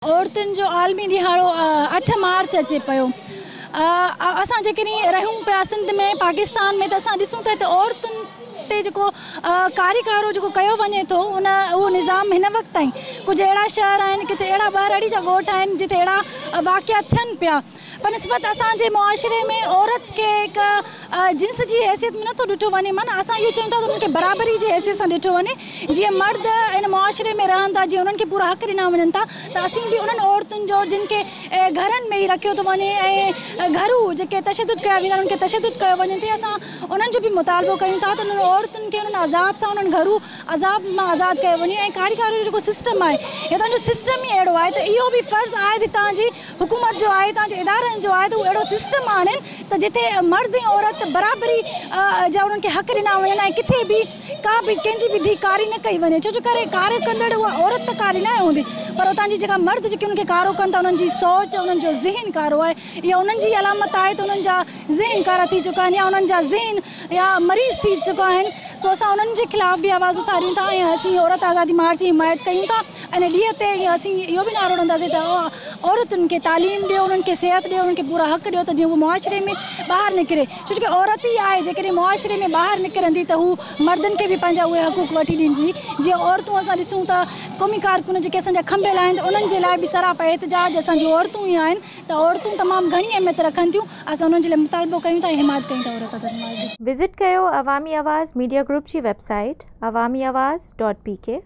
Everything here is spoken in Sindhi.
عورتن جو عالمي ڏهاڙو اٺ مارچ اچي پيو اسان جيڪڏهن رهيون پيا سنڌ ۾ پاڪستان ۾ ته اسان ڏسون ٿا ته عورتن تي جيڪو ڪاري ڪارو جيڪو ڪيو وڃي ٿو ان اهو نظام هن وقت تائين ڪجهه اهڙا شهر آهن ڪٿي اهڙا ٻهراڙي جا ڳوٺ آهن جتي اهڙا واقعا ٿين پيا بنسبت اسان جي معاشري ۾ عورت کي هڪ جنس جي حيثيت ۾ نٿو ڏٺو وڃي معنيٰ اسان اهو چاهيون ٿا ته انهن کي برابري جي حيثيت سان ڏٺو وڃي جيئن مرد هن معاشري ۾ رهن ٿا جيئن انهن کي پورا حق ڏنا وڃن ٿا ته اسين به انهن عورتن جو جن کي گهرن ۾ ئي رکيو ٿو وڃي ۽ گهرو جيڪي تشدد ڪيا ويندا آهن انهن کي تشدد ڪيو وڃي ٿي اسان انهن جو به مطالبو ڪيون ٿا ته انهن عورتن کي انهن عذاب سان انهن گهرو عذاب مان آزاد ڪيو وڃي ۽ ڪاريگارو جو جيڪو سسٽم آهي هتان جو سسٽم ئي اهڙو آهي ته اهو به فرض آهي ته هتان جي حڪومت جو آهي تان جي ادارن جو آهي ته هو اهڙو سسٽم آڻين ته جتي مرد ۽ عورت برابري جا انهن کي حق ڏنا وڃن ۽ ڪٿي به ڪا به ڪنهن جي به ڌي ڪاري نه ڪئي وڃي ڇو جو ڪري ڪاري ڪندڙ اها عورت ته ڪاري ناهي هوندي پر اتان جي جيڪا مرد جيڪي انهن کي ڪارو ڪن ٿا انهن جي سوچ انهن جو ذهن ڪارو آهي اها انهن جي ئي علامت آهي ته انهن جا ذهن ڪارا ٿي چڪا آهن يا انهن جا ذهن يا مريض ٿي چڪا آهن سو اسان انهن جي خلاف به آواز اٿاريون ٿا ۽ اسين عورت آزادي مارچ جي حمايت ڪيون ٿا. ان ڏينهن تي اسين اهو به نعرو هڻنداسين ته عورتن کي تعليم ڏيو، انهن کي صحت ڏيو، انهن کي پورا حق ڏيو ته جيئن هوء معاشري ۾ ٻاهر نڪري ڇو جو عورت ئي آهي جيڪڏهن معاشري ۾ ٻاهر نڪرندي ته هوء مردن کي به پنهنجا اهي حقوق وٺي ڏيندي جيئن عورتون اسان ڏسون ته قومي ڪارڪن جيڪي اسان جا کنڀيل آهن ته انهن جي لاء به سراپا احتجاج اسان جون عورتون ئي آهن ته عورتون تمام گهڻي اهميت رکن ٿيون اسان انهن جي لاء مطالبو ڪيون ٿا ۽ حمايت ڪيون ٿا عورت آزادي مارچ جي. وزٽ ڪيو عوامي آواز ميڊيا گروپ جي website Awami Awaz dot P ڪي.